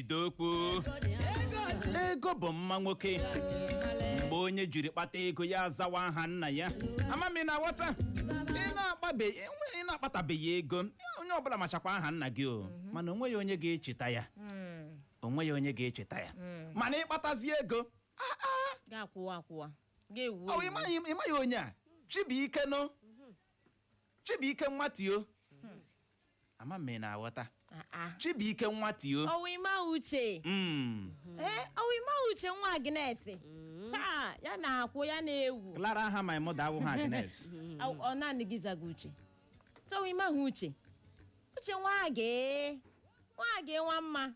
idokwu ego bụ mma nwoke mgbe onye jiri kpata ego ya azawa aha nna ya ama m ma ị na-aghọta ị na-akpabe enwe ị na-akpatabeghị ego onye ọbụla machakwa aha nna gị o mana onweghị onye ga-echeta ya onweghị onye ga-echeta ya mana ị kpatazie ego ah, ah, gị akwụwa akwụwa gị ewuo ewu. ị maghị ị maghị onye a Chibuike nụ Chibuike nwa Theo ama m ma ị na-aghọta Ah, ah. Chibuike nwa Theo Ọ wụ ị maghị Uche Mm. ee ọ wụ ị maghị Uche nwa Agnes Ha, ya na-akwụ ya na-ewu Clara aha my mother awụghị Agnes Ọ- ọ naanị gị zaga Uche ọ wụ ị maghị Uche Uche nwa gị nwa gị nwa mma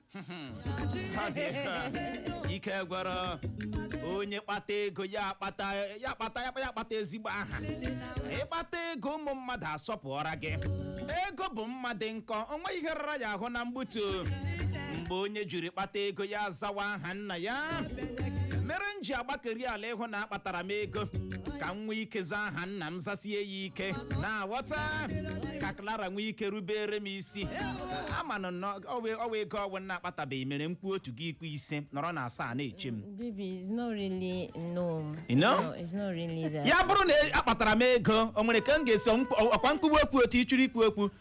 ike gwara onye kpata ego ya akpata ya akpata ya akpata ezigbo aha ị kpata ego ụmụ mmadụ asọpụọra gị ego bụ mma dị nkọ o nweghị ihe rara ya ahụ na mgbutu mgbe onye jiri kpata ego ya azawa aha nna ya mere m ji agbakeri ala ịhụ na akpatara m ego ka m nwee ike zaa aha nna m zasie ya ike ị na-aghọta ka Clara nwee ike rubere m isi a ma nụ na ọ wee- ọ wee ego ọ wụ m na-akpatabeghị mere m kwuo otu gị ekwuo ise nọrọ na asaa na-eche m Baby, it's not really no. You know? No, it's not really that. ya bụrụ na akpatara m ego o nwere ka m ga-esi ọkwa m kwube okwu otu ị chọrọ ikwu okwu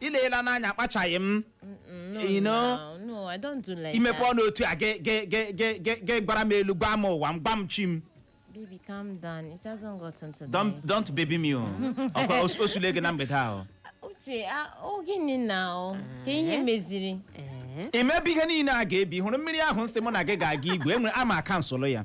i leela n'anya akpachaghị m No, You know? now, no, I don't do like imepe that. ọnụ otu a ge- ge- ge- ge- ge- ge gwara m elu gwa m ụwa m gwa m chi m Baby, calm down. It hasn't gotten to don't this. don't baby me o ọkwa o- o sule gị na mgbede ahụ Uche, ah, oh, gịnị na o? Ka ihe meziri. Ee. i mebe ihe niile a ga-ebi hụrụ mmiri ahụ nsị mụ na gị ga-aga igwe enwere ama kansụlụ ya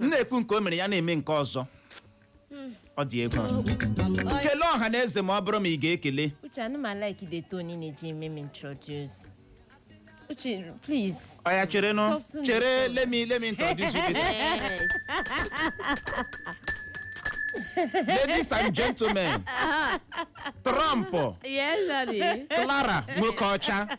m na-ekwu nke o mere ya na-eme nke ọzọ ọ dị egwu kelee ọha na eze ma ọ bụrụ ma ị ga-ekele Uche, I no like the tone in it, me me introduce. Uche, please. ọya chere nụ Soften chere it. let me let me introduce you to Yes. ladies and gentlemen trump Yes, daddy. Clara Nwokeocha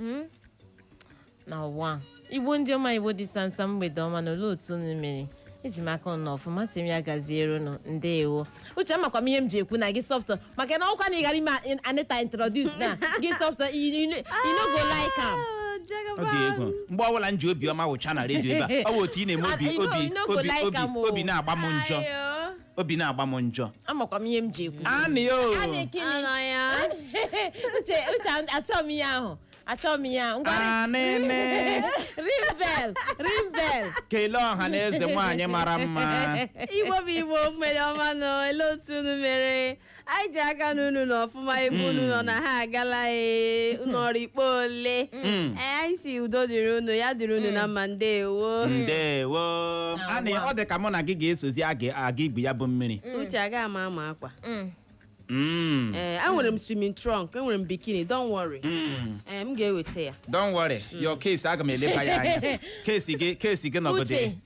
Mm. na ụwa Igbo ndị ọma Igbo dị samsam mgbede ọma nụ olee otu unu mere eji m aka unu nọ ọfụma asị m ya gaziere unu ndeewo Uche amakwa m ihe m ji ekwu na gị soften maka na ọkwa na ị gara ime a- Anita introduce na gị soften you no go like am ọ dị egwu mgbe ọbụla m ji obiọma wụcha na redio ebe a ọ bụ otu ị na-eme obi Ah, you know- obi you no go obi like obi am o. obi na-agba m njọ Ayo. obi na-agba m njọ amakwa m ihe m ji ekwu anị ya o Anị gịnị? Anọ ya. Uche Uche achọọ m ihe ahụ achọọ m ihe ahụ ngwarị anịnị rimbel rimbel kelee ọha na eze nwaanyị mara mma Igbo bụ Igbo mgbede ọma nụ olee otu unu mere anyị ji aka na unu nọ ọfụma ebe unu nọ na ha agala ee unu ọrụ ikpe ole Ee, anyị si udo dịrị unu ya dịrị unu na mma ndewo ndewo anị ọ dị ka mụ na gị ga-esozi aga aga igwu ya bụ mmiri uche aga ama ama akwa Mm. Mm, ee enwere m swimming trunk enwere m bikini don't worry mm. ee m ga-eweta ya don't worry your case aga m eleba ya anya case gị case gị nọgide uche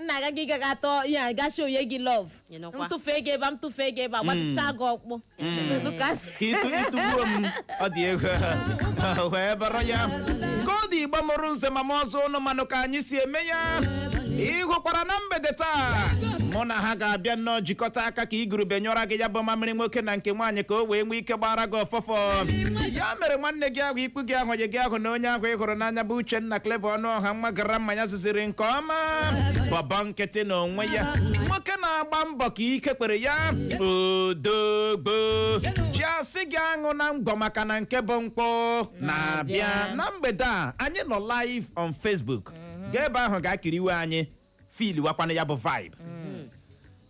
nna aga gị gaga atọ ihe a gashi onye gị love Ị nọkwa. m tụfee gị ebe a m tụfee gị ebe a gbatịcha gị ọkpụ Dụdụ ka asị. ka ịtụ ịtụgbuo m ọ dị ego wee bụrụ ya ka ọ dị Igbo mụrụ nze ma mụọ ọzọ unu manụ ka anyị si eme ya ị hụkwara na mgbede taa mụ na ha ga-abịa nnọọ jikọta aka ka igurube nyụọra gị ya bụ mamịrị nwoke na nke nwaanyị ka o wee nwee ike gbara gị ụfụfụ ya mere nwanne gị ahụ ikwu gị ahụ onye gị ahụ na onye ahụ ị hụrụ n'anya bụ Uchenna Clever Ọnụọha nwa gara mmanya ziri nke ọma bọbọ nkịtị na onwe ya nwoke na-agba mbọ ka ike kwere ya odogwu ji asị gị aṅụna ngwọ maka na nke bụ nkwụ na-abịa na mgbede a anyị nọ live on Facebook gaa ebe ahụ ga kiriwe anyị feeliwakwanụ ya bụ vibe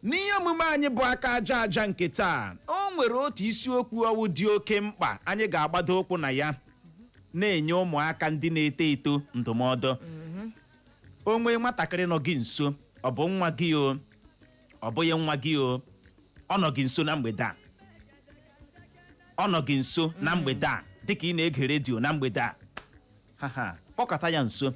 n'ihe omume anyị bụ aka aja aja nke taa o nwere otu isiokwu ọwụ dị oke mkpa anyị ga-agbado ụkwụ na ya na-enye ụmụaka ndị na-eto eto ndụmọdụ o nwee nwatakịrị nọ gị nso ọ bụ nwa gị o ọ bụghị nwa gị o ọ nọ gị nso na mgbede a ọ nọ gị nso na mgbede a dịka ị na-ege redio na mgbede a ha ha kpọkọta ya nso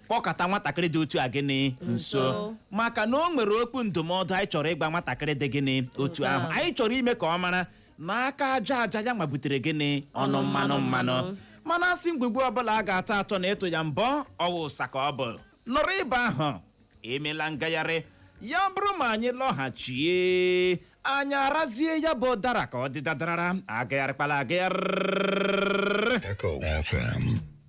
kpọkọta nwatakịrị dị otu a gịnị nso Nso. maka na o nwere okwu ndụmọdụ anyị chọrọ ịgwa nwatakịrị dị gịnị otu Otu ahụ ahụ. anyị chọrọ ime ka ọ mara na aka aja aja ya nwa butere gịnị ọnụ mmanụ mmanụ mana a sị ngwugwu ọbụla a ga-atọ atọ na ịtụ ya mbọ ọ wụ ụsa ka ọ bụ nọrọ ebe ahụ emela ngagharị ya bụrụ ma anyị lọghachie anyị arazie ya bụ ụdara ka ọ dị dadarara agagharịkwala agagharị Echo FM.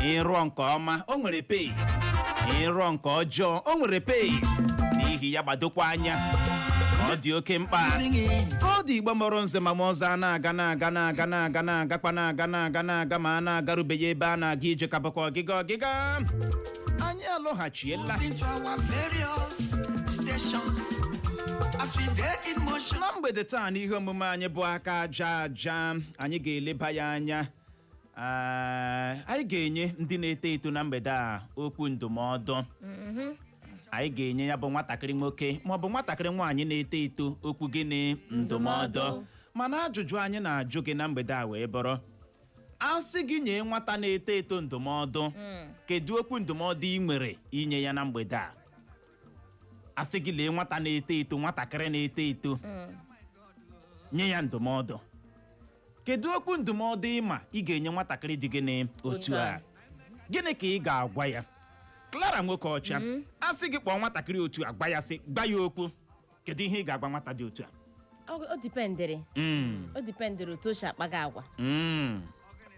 ị rụọ nke ọma o nwere pay ị rụọ nke ọjọọ o nwere pay n'ihi ya gbadokwa anya ọ dị oke mkpa ka ọ dị Igbo mụrụ nze ma mụọ ọzọ a na-aga na-aga na-aga na-aga na-agakwa na-aga na-aga na-aga mana a garubeghị ebe a na-aga ije ka bụkwa ọgịga ọgịga anyị alọghachiela into our various stations as we dey in motion. na mgbede taa n'ihe omume anyị bụ aka aja aja anyị ga-eleba ya anya Ee, anyị ga-enye ndị na-eto eto na mgbede a okwu ndụmọdụ anyị ga-enye ya bụ nwatakịrị nwoke maọbụ nwatakịrị nwaanyị na-eto eto okwu gịnị ndụmọdụ mana ajụjụ anyị na-ajụ gị na mgbede a wee bụrụ a sị gị nye nwata na-eto eto ndụmọdụ kedu okwu ndụmọdụ ị nwere inye ya na mgbede a a sị gị lee nwata na-eto eto nwatakịrị na-eto eto nye ya ndụmọdụ kedu okwu ndụmọdụ ị ma ị ga-enye nwatakịrị dị gịnị otu a gịnị ka ị ga-agwa ya Clara nwoke ọcha a sị gị kpọọ nwatakịrị otu a gwa ya sị gwa ya okwu kedu ihe ị ga-agwa nwata dị otu a Ọ ọ dipendịrị Mm, ọ dipendịrị otu o si akpaga agwa mm.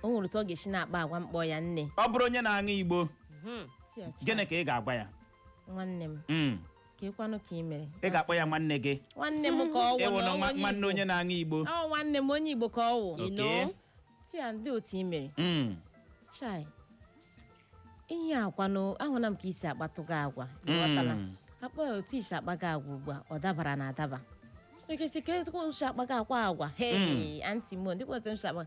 o nwere otu ọ ga-esi na-akpa agwa m kpọọ ya nne ọ bụrụ onye na-aṅụ igbo gịnị ka ị ga-agwa ya nwanne m Mm. keekwanụ ka ị mere ị ga-akpọ ya nwanne gị nwanne m ka ọ wụ ị wụ na na ọ nwa- onye nwanne Igbo. onye na-aṅụ igbo ọ nwanne m onye igbo ka ọ wụ Okay. know? sị ya ndịị otu ị mere Mm. chai ihe a kwanụ ahụla m ka i si akpatụga agwa ị ghọtala? Mm. akpa ya otu i si akpaga agwa ugbu a ọ dabara na adaba ekesi ka etu i si akpaga akwa agwa hei anti mo ndị kpọta isi akpa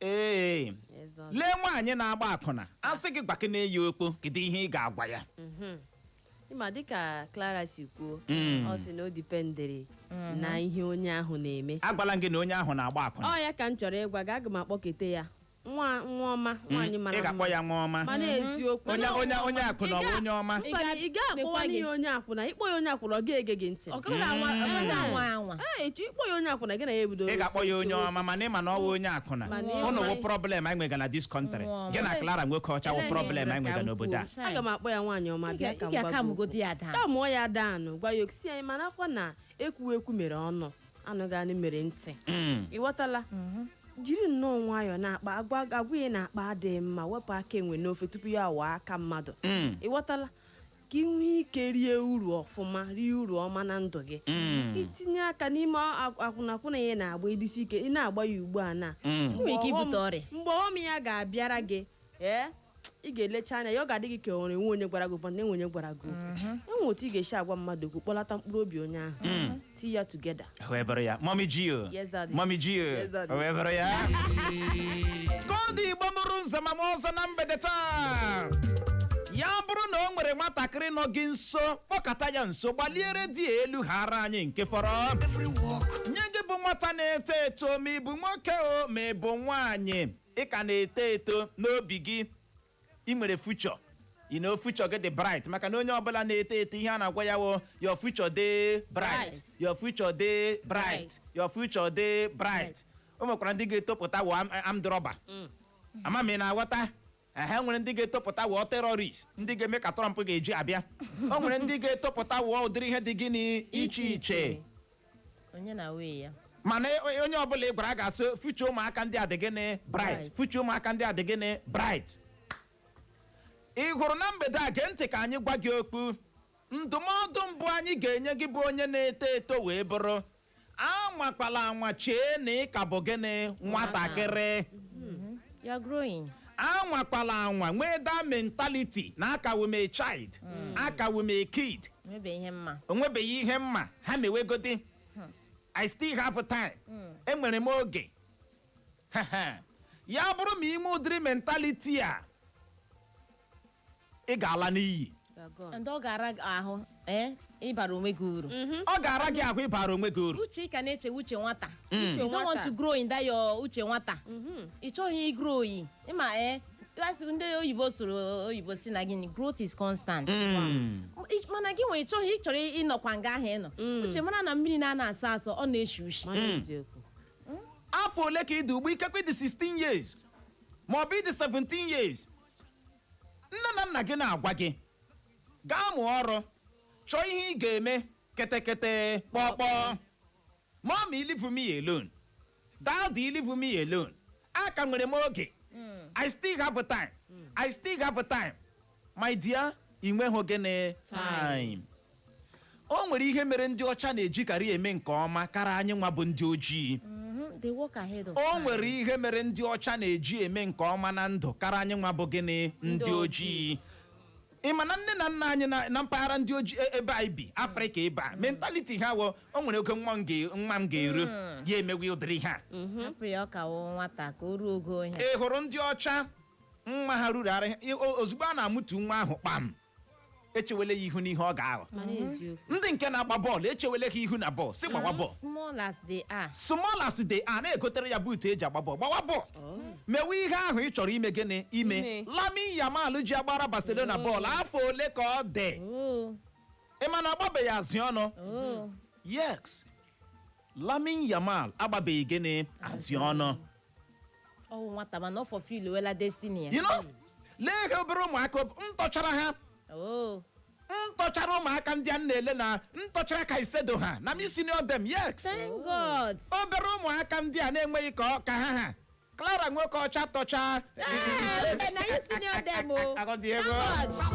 ee Yes, Lord. lee nwaanyị na-agba akwụna a sị gị gwa ke na-eyi okpo kedu ihe ị ga-agwa ya ị ma dịka Clara si kwuo Mm. ọ sị na o dipendere na ihe onye ahụ na-eme agwala m gị na onye ahụ na-agba akwụna ọ ya ka m chọrọ ịgwa gị aga m akpọkete ya nwa nwa ọma nwaanyị ị mara ga-akpọ mma ya nwa ọma mana eziokwu onye onye onye akwụna ọ bụ onye ọma Ị ga- Mba, ị gaghị akpọwa sịkwa gị. n'ihe onye akwụna ịkpọ ya onye akwụna ọ ga-ege gị ntị ọ gaghị anwa ọ gaghị anwa anwa Ee, etu ịkpọ ya onye akwụna gị na ya ebido ị ga-akpọ ya onye ọma mana ị ma na ọ wụ onye akwụna Mana ị ụnụ ma- wụ problem anyị nwega na this country Nwa ọma. gị na Clara nwoke ọcha wụ Ele problem anyị nwega n'obodo a aga m akpọ ya nwaanyị ọma Ị bịa ga- ka ị m ga-aka gwa gị mụgodi ya daa taa mụọ ya danụ gwa ya okwu sị anyị ma nakwa na ekwu ekwu mere ọnụ anụghị anụ mere ntị Mm. ị ghọtala jiri nnọọ nwayọọ na-akpa agwa agwa a ị na-akpa adịghị mma wepụ aka enwe n'ofe tupu ya waa aka mmadụ Mm. ị ghọtala ka ị nwee ike rie uru ọfụma rie uru ọma na ndụ gị Mm. itinye aka n'ime ak- akwụnakwụna a ị na-agba ị dịsi ike ị na-agba ya ugbu a na Mm. Mgbe Nwere ike ọghọm- ibute ọrịa. mgbe ọghọm ya ga-abịara gị ee ị ga-elecha anya ya ọ ga-adị gị ka o nwere nwe onye gwara gị ụfọdụ na enwe onye gwara gị okwu e nwe otu ị ga-esi agwa mmadụ okwu kpọlata mkpụrụ obi onye ahụ tie ya together. wee bụrụ ya Mummy G.O. Yes, daddy. Mummy G.O. Yes, daddy. wee bụrụ ya ka ọ dị Igbo mụrụ nze ma mụọ ọzọ na mgbede taa ya bụrụ na o nwere nwatakịrị nọ gị nso kpọkọta ya nso gbalie redio elu haara anyị nke fọrọ nye gị bụ nwata na-eto eto ma ị bụ nwoke o ma ị bụ nwaanyị ị ka na-eto eto n'obi gị ị nwere future you know future gị dị bright maka na onye ọbụla na-eto eto ihe a na-agwa ya wụ your future dey bright Bright. your future dey bright Bright. your future dey bright o nwekwara ndị ga-etopụta wụọ am- armed robber ama m ị na-aghọta ehe nwere ndị ga-etopụta wụọ terrorist ndị ga-eme ka Trump ga-eji abịa o nwere ndị ga-etopụta wụọ ụdịrị ihe dị gịnị iche iche onye na way ya mana e- onye ọbụla ị gwara a ga-asị future ụmụaka ndị a dị gịnị bright Bright. future ụmụaka ndị a dị gịnị bright ị hụrụ na mgbede a gee ntị ka anyị gwa gị okwu ndụmọdụ mbụ anyị ga-enye gị bụ onye na-eto eto wee bụrụ anwakwala anwa chee na ị ka bụ gịnị nwatakịrị you are growing anwakwala anwa nwee that mentality na a ka wụ m a child a ka wụ m a kid o nwebeghị ihe m ma ha mewegodi I still have time enwere m oge ya bụrụ ma ị nwee ụdịrị mentality a ị ga-ala n'iyi ndị ọ ga-ara gị ahụ ee ịbara onwe gị uru ọ ga-ara gị ahụ ịbara onwe gị uru uche ị ka na-eche uche nwata you don't want nwata. to grow in that your uche nwata ị chọghị igrow o ị ma ee asị ndị oyibo sụrụ oyibo sị na gịnị growth is constant Mm. Ị- mana gị nwa ị chọghị ị chọrọ ịnọkwa nga ahụ ị nọ uche mara na mmiri na-ana asọ asọ ọ na-eshi ushi Mana eziokwu. afọ ole ka ị dị ugbu ikekwe ị dị 16 years ma ọ bụ ị dị 17 years nne na nna gị na-agwa gị gaa mụọ ọrụ chọọ ihe ị ga-eme ketekete kpọkpọọ mommy leave me alone daddy leave me alone a ka nwere m oge I still have time I still have time my dear ị nweghị gịnị time o nwere ihe mere ndị ọcha na-ejikarị eme nke ọma kara anyị nwa bụ ndị ojii Mhm, they work ahead of time. o nwere ihe mere ndị ọcha na-eji eme nke ọma na ndụ kara anyị nwa bụ gịnị ndị Ndị ojii ị ma na nne na nna anyị na- na mpaghara ndị ojii e- ebe anyị bi Afrịka ebe a mentality ha wụ o nwere oge nwa m ga- nwa m ga-eru ya emewe ụdịrị ihe a hapụ ya ọ ka wụ nwata ka o ruo ogo ihe ị hụrụ ndị ọcha nwa ha ruru ara ha- o- ozugbo a na-amụtụ nwa ahụ kpam e chewele ya ihu n'ihe ọ ga-aghọ mana eziokwu ndị nke na-agba bọọlụ e chewele ha ihu na bọọlụ sị gbawa bọọlụ small as they are small as they are na-egotere ya buutu e ji agba bọọlụ gbawa bọọlụ mewe ihe ahụ ị chọrọ ime gịnị ime Ime. Lamine Yamal ji agbara Barcelona bọọlụ afọ ole ka ọ dị oh ị ma na agbabeghị azị ọnụ oh yes Lamine Yamal agbabeghị gịnị azị ọnụ ọwụ nwata mana ọ fulfilwela destiny ya you know lee ihe obere ụmụaka ob- m tọchara ha oo m tọchara ụmụaka ndị a m na-ele na m tọchara ka isedo ha na m senior dem yes thank god obere ụmụaka ndị a na-enweghị ka ọ- ka ha ha Clara nwoke ọcha tọcha Ee, mbe na anyị senior dem o Agọdị ego. Thank God.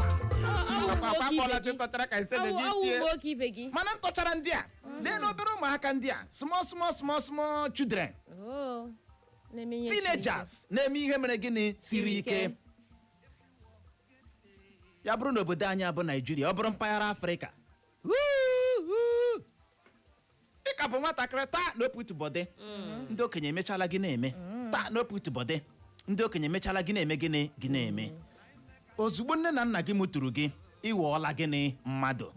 Ọ- ọ wụ akwa nwoke ibe akpọla gị. chịkọtara ka isedo Ọ wụ- gị ọ wụ tie nwoke ibe gị mana m tọchara ndị a lee na obere ụmụaka ndị a small small small small children Oh, na-eme ihe siri ike. teenagers na-eme ihe mere gịnị siri ike ya bụrụ na obodo anyị a bụ Naijiria ọ bụrụ mpaghara Afrịka Woo-hoo! ị ka bụ nwatakịrị taa na oputubọdị ndị okenye emechala gị na-eme taa na oputubọdị ndị okenye emechala gị na-eme gịnị gị na-eme ozugbo nne na nna gị mụtụrụ gị ị ghọọla gịnị mmadụ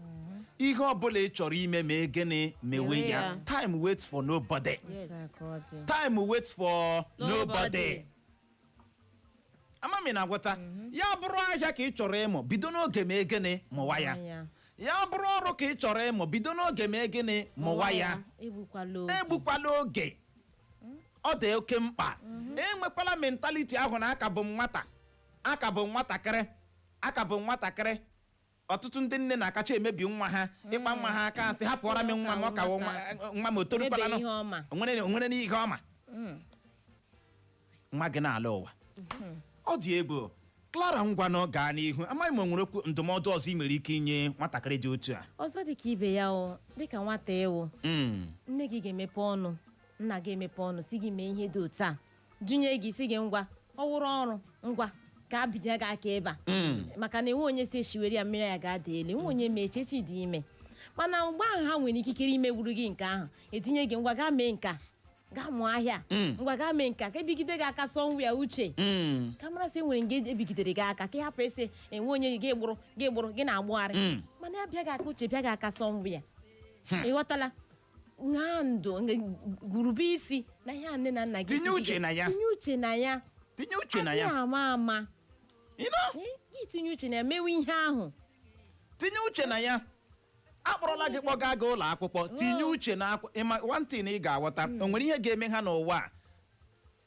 ihe ọbụla ị chọrọ ime mee gịnị mewe Mewe ya ya. time waits for nobody Otu a ka ọ dị. time waits for Nobody. nobody ama m ị na-aghọta ya bụrụ ahịa ka ị chọrọ ịmụ bido n'oge mee gịnị mụwa ya Mụwa ya. ya bụrụ ọrụ ka ị chọrọ ịmụ bido n'oge mee gịnị mụwa ya Igbukwala oge. egbukwala oge ọ dị oke mkpa enwekwala mentality ahụ na a ka bụ m nwata a ka bụ m nwatakịrị a ka bụ m nwatakịrị ọtụtụ ndị nne na-akacha emebi nwa ha ị kpa nwa ha aka a sị hapụọra m nwa m ọ ka wụ nwa nwa m o torukwala Ebe ihe ọ ma. o nwere o nwere n'ihe ọ ma nwa gị n'ala ụwa ọ dị egwu Clara ngwanụ gaa n'ihu amaghị m o nwere okwu ndụmọdụ ọzọ ị nwere ike inye nwatakịrị dị otu a ọzọ dịka ibe ya o dịka nwata ị wụ Mm. nne gị ga-emepe ọnụ nna gị emepe ọnụ sị gị mee ihe dị otu a dunye gị sị gị ngwa ọ wụrụ ọrụ ngwa ka a bido gị aka ebe a Mm. maka na enwe onye si echiwere ya mmiri ya ga-ada elu enwe onye ma echi echi dị ime mana mgbe ahụ ha nwere ikikere imegburu gị nke ahụ e tinye gị ngwa gaa mee nke a gaa mụọ ahịa Mm. ngwa gaa mee nke a ka e bigide gị aka sowa ya uche Mm. ka mara sị enwere nke e bigidere gị aka ka ị hapụ ese enwe onye gị gbụrụ gị gbụrụ gị na-agbụgharị Mm. mana ya bịa gị aka uche bịa gị aka sowa ya ị ghọtala ṅaa ntị rube isi na ihe a nne na nna gị Tinye sị gị uche ga- na ya. tinye uche na ya tinye uche na adịghị ya ama ama You know? Eh, gị tinye uche na ya mewe ihe ahụ tinye uche na ya a kpọrọla gị kpọga gị ụlọ akwụkwọ tinye uche na akwụ ị ma one thing ị ga-aghọta o nwere ihe ga-eme ha n'ụwa a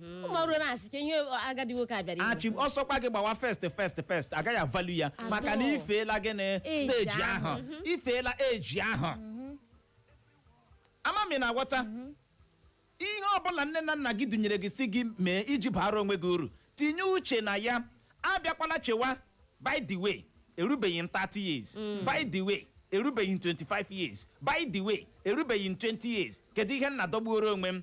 ụmụ ọrụ na-asị ka ihe agadi nwoke a bịara achị ọ sọkwa gị gbawa first first first a gaghị avalue ya Adọ. maka na ị feela gịnị Age stage ahụ. ahụ ị feela age ahụ ama m ị na-aghọta ihe ọbụla nne na nna gị dunyere gị sị gị mee iji baara onwe gị uru tinye uche na ya abịakwala chewa by the way erubeghị m 30 years by the way erubeghị m 25 years by the way erubeghị m 20 years kedu ihe m na-adọgbuoro onwe m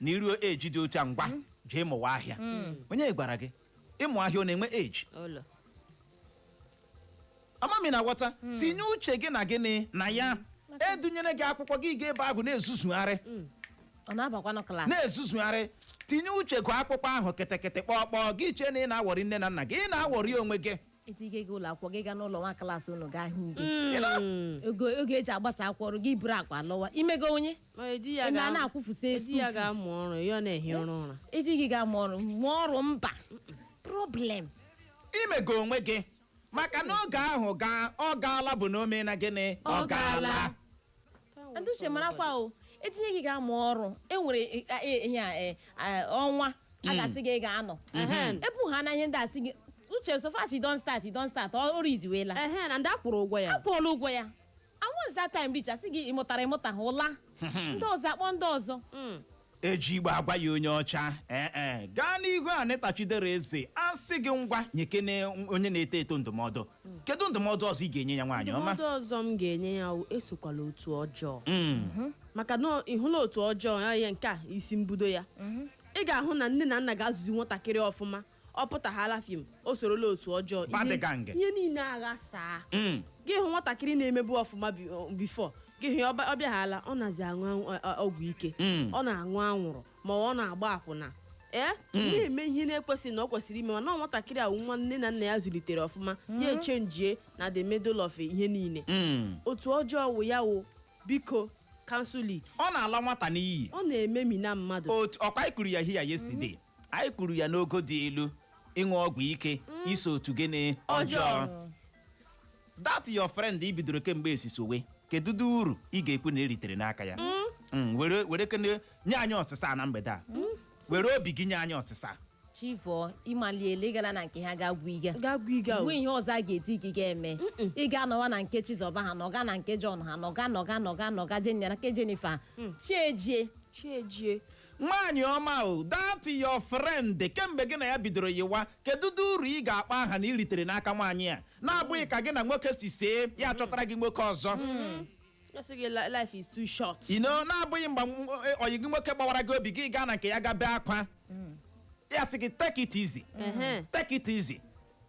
na iruo age dị otu a ngwa jee mụwa ahịa onye gwara gị ịmụ ahịa ọ na-enwe eji amamihe na nghọta tinye uche gị na gịnị na ya edunyere gị akwụkwọ gị ga ebe ahụ na-ezuzugharị ọ na-abakwanụ klaasị na-ezuzugharị tinye uche gụ akwụkwọ ahụ kịtịkịtị kpọọkpọọ gị chee na ị na-awọrị nne na nna gị ị na-awọrị onwe gị etinye gị ụlọ akwụkwọ gị gaa n'ụlọ nwa klaasị unu gaa hụ gị Ị na- oge oge eji agbasa akwụkwọ eruo gị buru akpa lọwa imego onye Ma edi ya Eme a ga- na-akwụfụsị edi school ya fees. ga-amụ ọrụ ya ọ na-ehi ụra ụra edi gị ga-amụ ọrụ mụọ ọrụ mba problem imego onwe gị maka na oge ahụ gaa ọ gaala bụ na o mena gịnị Ọ gaala. ndị uche marakwa o etinye gị ga-amụ ọrụ enwere e- e- ihe a, e, a, ọnwa a ga-asị gị ị ga-anọ Ehen. ebu ha na ihe ndị asị gị uche so fast you don start you don start ọrụ idiwela ehe na ndị akwụrụ ụgwọ ya akwụọla ụgwọ ya And once that time reach, asị gị ịmụtara ịmụtaha ụla. Ndị ọzọ akpọ ndị ọzọ. eji Igbo agwa ya onye ọcha ee e gaa n'ihu Anita Chidere Eze a sị gị ngwa nyekene onye na-eto eto ndụmọdụ kedu ndụmọdụ ọzọ ị ga-enye ya nwaanyị ọma ndụmọdụ ọzọ m ga-enye ya wụ esokwala otu ọjọọ Mm. maka na ịhụla otu ọjọọ ya ya nke a isi mbudo ya ị ga-ahụ na nne na nna ga-azụzi nwatakịrị ọfụma ọ pụtaghala fim o sorola otu ọjọọ Bad ihe- gang. ihe niile aghasaa Mm. gị hụ nwatakịrị na-emebu ọfụma bi- ọ- before gị hụ ya ọba- ọ bịaghala ọ nazi aṅụ anwụ- ọ- ọ- ọgwụ ike Mm. ọ na-aṅụ anwụrụ ma ọ na-agba akwụna ee na-eme ihe na-ekwesịghị na ọ kwesịrị ime mana ọ nwatakịrị ahụ nwa nne na nna ya zụlitere ọfụma ya echenjie na the middle of ihe niile Mm. otu ọjọọ wụ ya wụ biko cancel it ọ na-ala nwata n'iyi ọ na-ememina mmadụ otu ọkwa anyị kwuru ya here yesterday anyị kwuru ya n'ogo dị elu ịṅụ ọgwụ ike iso otu gịnị ọjọọ that your friend i bidoro kemgbe esisowe kedu ụdị uru ị ga-ekwu na eritere n'aka ya Mm, were werekene nye anyị ọsịsa a na mgbede a were obi gị nye anyị ọsịsa a. chi vọọ ịmaliele gara na nke ha ga-agwụ iga ga-agwa iga o. mgbe ihe ọzọ a ga-ezi gị ga-eme ị ga-anọwa na nke Chizọba ha nọga na nke John ha nọga nọga nọga nọga jenya na nke Jennifer chi ejie chi ejie nwaanyị ọma o that your friend kemgbe gị na ya bidoro yiwa kedu ụdị uru ị ga-akpa aha na iritere n'aka nwaanyị a na-abụghị ka gị na nwoke si see ya chọtara gị nwoke ọzọ Ya sị gị "Li- life is too short. you know na-abụghị mgbe m- e- ọyị gị nwoke gbawara gị obi gị gaa na nke ya ga bee akwa ya sị gị take it easy Ehe. take it easy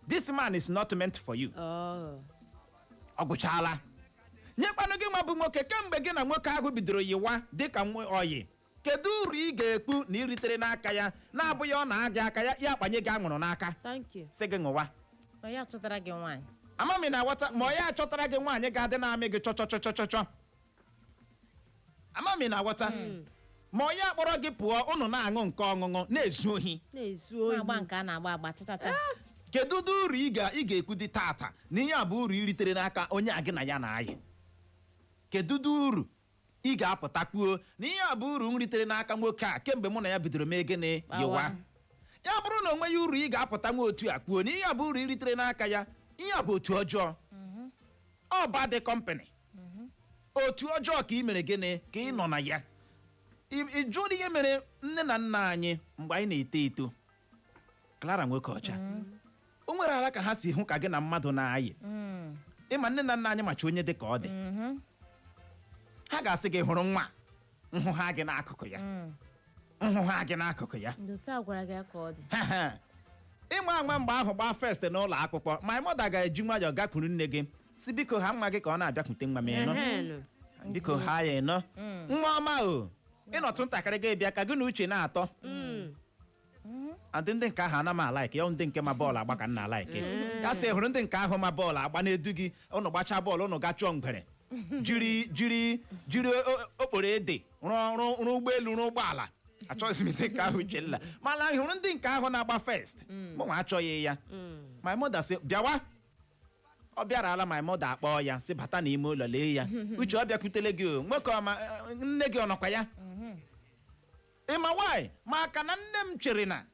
this man is not meant for you Oh. ọ gwụchaala nyekwanụ gị nwa bụ nwoke kemgbe gị na nwoke ahụ bidoro yiwa dịka nwa ọyị kedu uru ị ga-ekwu na ị ritere n'aka ya na-abụghị ọ na-agị aka ya ya akpanye gị anwụrụ n'aka thank you sị gị ṅụwa na ya chọtara gị nwaanyị ama m ị na-aghọta ma ọ ya achọtara gị nwaanyị ga-adị na-amị gị chọchọchọchọchọ ama m ị na-aghọta ma ọ ya akpọrọ gị pụọ ụnụ na-aṅụ nke ọṅụṅụ na-ezu ohi na-ezu ohi na-agba nke a na-agba agba chachacha kedu ụdị uru ị ga- ị ga-ekwu dị tata na ihe a bụ uru ị ritere n'aka onye a gị na ya na-ayị kedu ụdị uru ị ga-apụta kwuo na ihe a bụ uru m ritere n'aka nwoke a kemgbe mụ na ya bidoro mee gịnị Gbawa. yịwa ya bụrụ na o nweghị uru ị ga-apụta nwa otu a kwuo na ihe a bụ uru m ritere n'aka ya ihe a bụ otu ọjọọ ọ bad company otu ọjọọ ka ị mere gịnị ka ị nọ na ya Ị- ị jụọ ihe mere nne na nna anyị mgbe anyị na-eto eto Clara nwoke ọcha o nwere ala ka ha si hụ ka gị na mmadụ na-ayị ị ma nne na nna anyị macha onye dị ka ọ dị ha ga-asị gị hụrụ nwa nhụ ha gị n'akụkụ ya nhụ ha gị n'akụkụ ya ndị otu a gwara gị ya ka ọ dị ị ma ama mgbe ahụ gbaa first n'ụlọ akwụkwọ my mother ga-eji nwayọọ gakwuru nne gị si biko ha nwa gị ka ọ na-abịakwute nwa m ị nụ Ehenụ. biko ha ya ị nụ nwa ọma o ị nọtụ ntakịrị gị bịa ka gị na Uche na-atọ adị ndị nke ahụ ana m alike ya ọ ndị nke ma bọọlụ agba ka m na-alike ya sị hụrụ ndị nke ahụ ma bọọlụ agba na-edu gị ụnụ gbachaa bọọlụ ụnụ ga chụọ ngwere jiri jiri jiri o- okporo ede rụọ rụọ rụọ ụgbọelu rụọ ụgbọala achọghịzi m ndị nke ahụ Uchenna mana anyị hụrụ ndị nke ahụ na-agba first mụnwa achọghị ya my mother sị bịawa ọ bịara ala my mother akpọọ ya sị bata n'ime ụlọ lee ya Uche ọ bịakwutele gị o nwoke ọma eh, nne gị ọ nọkwa ya Ị ma why? Maka na nne m chere na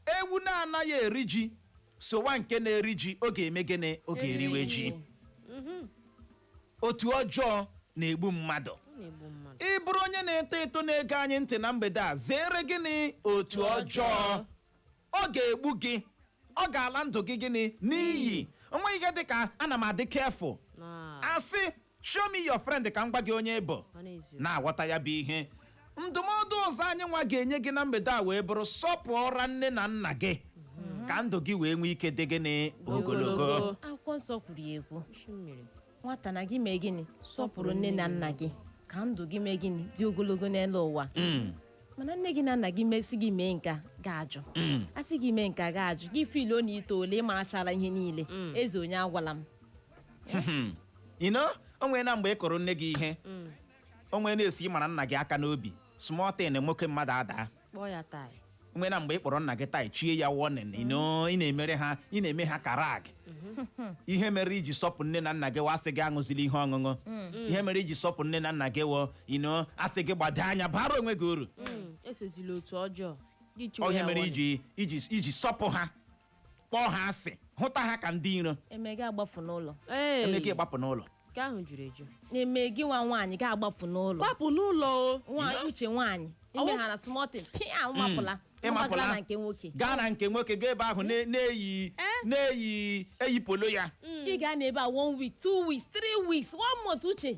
ewu na-anaghị eri ji sowa nke na-eri ji ọ ga-eme gịnị ọ ga-eriwe ji otu ọjọọ na-egbu mmadụ Ọ na-egbu mmadụ. ị bụrụ onye na-eto eto na-ege anyị ntị na mgbede a zere gịnị otu ọjọọ ọ ga-egbu gị ọ ga-ala ndụ gị gịnị n'iyi o nweghị ihe dị ka ana m adị careful Na- asị show me your friend ka m gwa gị onye ị bụ Ọ na-ezu. na-aghọta ya bụ ihe ndụmọdụ ọzọ anyị nwa ga-enye gị na mgbede a wee bụrụ sọpụọra nne na nna gị ka ndụ gị wee nwee ike dị gịnị ogologo Ogologo. akwụkwọ nsọ kwuru ya ekwu Isi mmiri. nwata na gị mee gịnị sọpụrụ nne na nna gị ka ndụ gị mee gịnị dị ogologo n'elu ụwa Mm, mana nne gị na nna gị mesị gị mee nke a gị ajụ mm. a sị gị mee nke a gị ajụ gị feeluo na i toole ị marachara ihe niile eze onye agwala m you know o nwere na mgbe ị kụrụ nne gị ihe mm. o nwere na-esi ịmara nna gị aka n'obi small thing nwoke mmadụ adaa kpọọ ya tai nwee na mgbe ị kpọrọ nna gị tai chie ya warning ị mm. na-emere ha ị na-eme ha ka rag mm-hmm. ihe mere iji sọpụ nne na nna gị a sị gị aṅụzila ihe ọṅụṅụ mm. ihe mere iji sọpụ nne na nna gị wụ na a sị gị gbado anya bara onwe gị uru mm. esozila otu ọjọọ ihe mere iji sọpụ ha kpọọ ha asị hụta ha ka ndị iro e mee gị agbapụ n'ụlọ Ee, e mee gị gbapụ n'ụlọ nke ahụ juru eju e mee gị nwa nwaanyị gị agbapụ n'ụlọ gbapụ n'ụlọ o nwaanyị uche nwaanyị imeghara small thing pịa mapụla Ị mapụla. mapụla na nke nwoke gaa na nke nwoke gaa ebe ahụ na- na-eyi na-eyi eyi polo ya ị gaa n'ebe a one week two weeks three weeks one month uche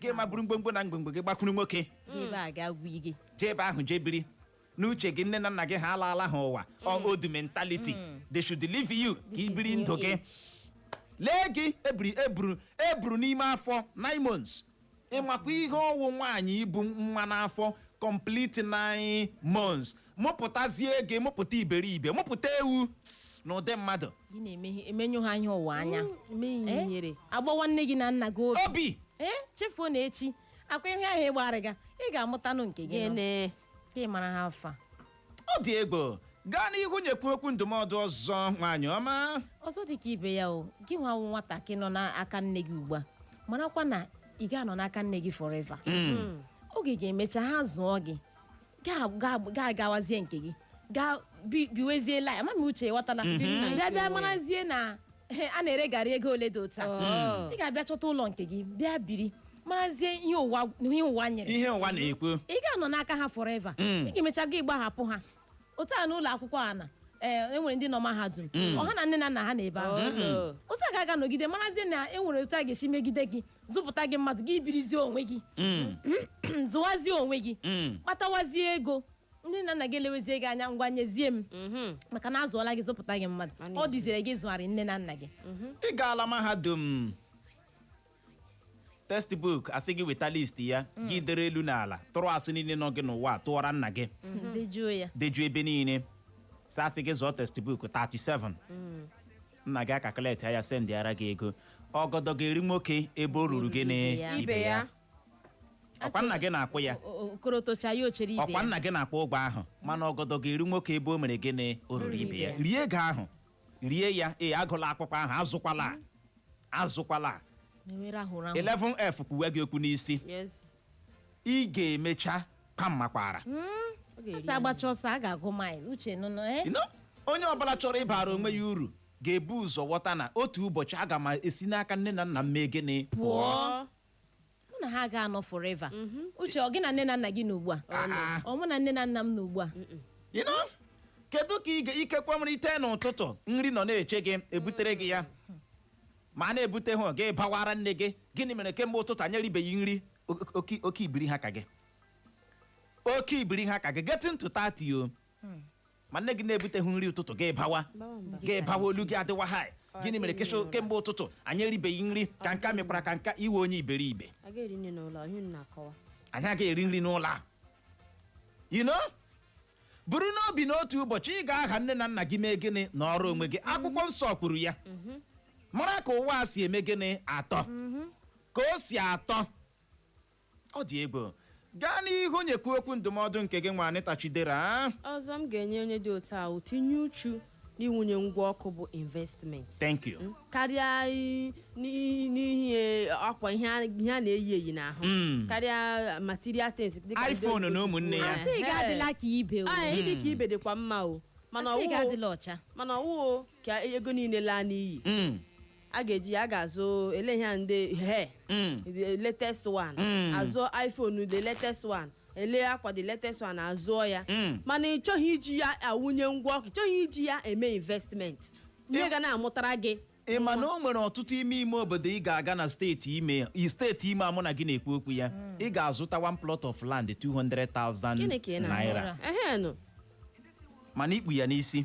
gị ma bụrụ mgbomgbo na mgbomgbo gị gbakwuru nwoke Gị ebe a ga gwa gị jee ebe ahụ jee biri n'uche gị nne na nna gị ha alaala ha ụwa ọ old mentality they should leave you ka i biri ndụ gị lee gị e buru e buru e buru n'ime afọ nine months ị makwa ihe ọ wụ nwaanyị ibu nwa n'afọ complete nine months mụpụtazie gị mụpụta iberibe mụpụta ewu n'ụdị mmadụ gị na-emehie emenyụ ha ihe ụwa anya mee ihe Eh? ihere agbawa nne gị na nna gị obi obi ee chefuo na echi ọkwa ihe ahụ ị gbara gị ị ga-amụtanụ nke gị nọ. gịnị ka ị mara how far ọ dị egwu gaa n'ihu nyekwu okwu ndụmọdụ ọzọ nwaanyị ọma ọzọ dị ka ibe ya o gị nwa wụ nwatakịrị nọ n'aka nne gị ugbu a marakwa na ị ga-anọ n'aka nne gị forever oge ga-emecha ha zụọ gị gaa- gaa- gaa gawazie nke gị gaa bi- biwezie life ama m uche ghọtala Ndị nna bịa bịa nke marazie na eh, a na-ere garri ego ole dị otu a Oh. ị ga-abịa chọta ụlọ nke gị bịa biri marazie ihe ụwa ihe ụwa nyere ihe ụwa na-ekwu ị ga-anọ n'aka ha forever Mm. ị ga-emecha gị gbahapụ ha otu a n'ụlọ akwụkwọ a na ee, e nwere ndị nọ mahadum ọ ha na nne na nna ha nọ ebe ahụ Oh, no. otu a ga-aga nọgide marazie na e nwere otu a ga-esi megide gị zụpụta gị mmadụ gị birizie onwe gị Mm, zụwazie onwe gị mm. kpatawazie ego nne na nna gị elewezie gị anya ngwa nyezie m Mhm. maka na a zụọla gị zụpụta gị mmadụ Mana ọ dịzire gị zụgharị nne na nna gị ị gaala mahadum textbook a sị gị weta list ya gị dere elu na ala tụrụ asị niile nọ gị n'ụwa tụọra nna gị dejuo ya dejuo ebe niile sị a sị gị zụọ textbook 37 nna gị a-calculate ya sendịara gị ego ọgọdọ ga-eri nwoke ebe o ruru gị na Ibe ya. ibe ya ọkwa nna gị na-akwụ ya O- o- okorotocha ya ochere ibe ọkwa ya nna gị na-akwụ ụgwọ ahụ mana ọgọdọ ga-eri nwoke ebe o mere gị na o ruru ibe ya rie ego ahụ rie ya ee agụla akwụkwọ ahụ azụkwala azụkwala Ewere ahụ rahụ. 11 F kwuwe gị okwu n'isi Yes. ị ga-emecha kwaa mmakwaara a sị a gbachaa ọsọ a ga-agụ maịl uche nụnụ eh? You know, onye ọbụla chọrọ ịbara onwe ya uru ga-ebu ụzọ ghọta na otu ụbọchị aga m esi n'aka nne na nna m mee gịnị pụọ mụ na ha ga-anọ forever uche ọ gị na nne na nna gị nọ ugbu a Ah, ah. ọ mụ na nne na nna m nọ ugbu a You know, kedu ka ị ga- ikekwe nwere i tee n'ụtụtụ nri nọ na-eche gị e butere gị ya mana e butehụ gị bawara nne gị gịnị mere kemgbe ụtụtụ anyị eribeghị nri Oke- oke oke ibiri ha ka gị oke ibiri ha ka gị getting to 30 o ma nne gị na-ebuteghị nri ụtụtụ gị bawa Bawa mba. gị bawa olu gị adịwa high gịnị mere kesho kemgbe ụtụtụ anyị eribeghị nri ka nka mekwara ka nka iwe onye iberibe a ga-eri nri n'ụlọ ọhịa unu na-akọwa anyị agaghị eri nri n'ụlọ a you know buru n'obi na otu ụbọchị ị ga-aha nne na nna gị mee gịnị nọrọ onwe gị akwụkwọ nsọ kwuru ya mara ka ụwa a si eme gịnị atọ ka o si atọ ọ dị egwu gaa n'ihu nyekwu okwu ndụmọdụ nke gị nwa Anita Chidera ọzọ m ga-enye onye dị otu ahụ tinye uchu n'iwunye ngwa ọkụ bụ investment thank you mm, karịa i- n'i- n'ihe akwa ihe a ihe a na-eyi eyi n'ahụ Mm. karịa material things dịka ndị iPhone oyibo na si ụmụnne kwuo. ya. asịghị adịla ka ibe o Ee, ịdị ka ibe dịkwa mma o mana asịghị ọ wụ adịla ọcha mana ọ wụọ ka ego niile laa n'iyi Mm. a ga-eji ya aga azụ ele ihe a ndị he Mm. the latest one Mm. azụọ iphone the latest one ele akwa the latest one azụọ ya Mm. mana ị chọghị iji ya awụnye ngwa ọkụ ị chọghị iji ya eme investment ihe Ị- ga na-amụtara gị ị ma na o nwere ọtụtụ ime ime obodo ị ga-aga na steeti Imo i- steeti Imo a mụ na gị na-ekwu okwu ya ị ga-azụta one plot of land 200,000 gịnị ka ị naira na-amụra ehe nụ mana i kpu ya n'isi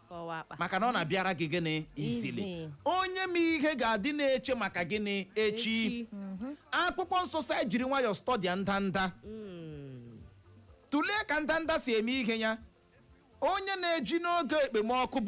ka ọ wụ akpa maka na ọ na-abịara gị gịnị easily Easy. onye ma ihe ga-adị na-eche maka gịnị echi Echi. akwụkwọ nsọ sị anyị jiri nwayọọ stọdịa ndanda tụlee ka ndanda si eme ihe ya onye na-eji n'oge ekpemọkụ bụ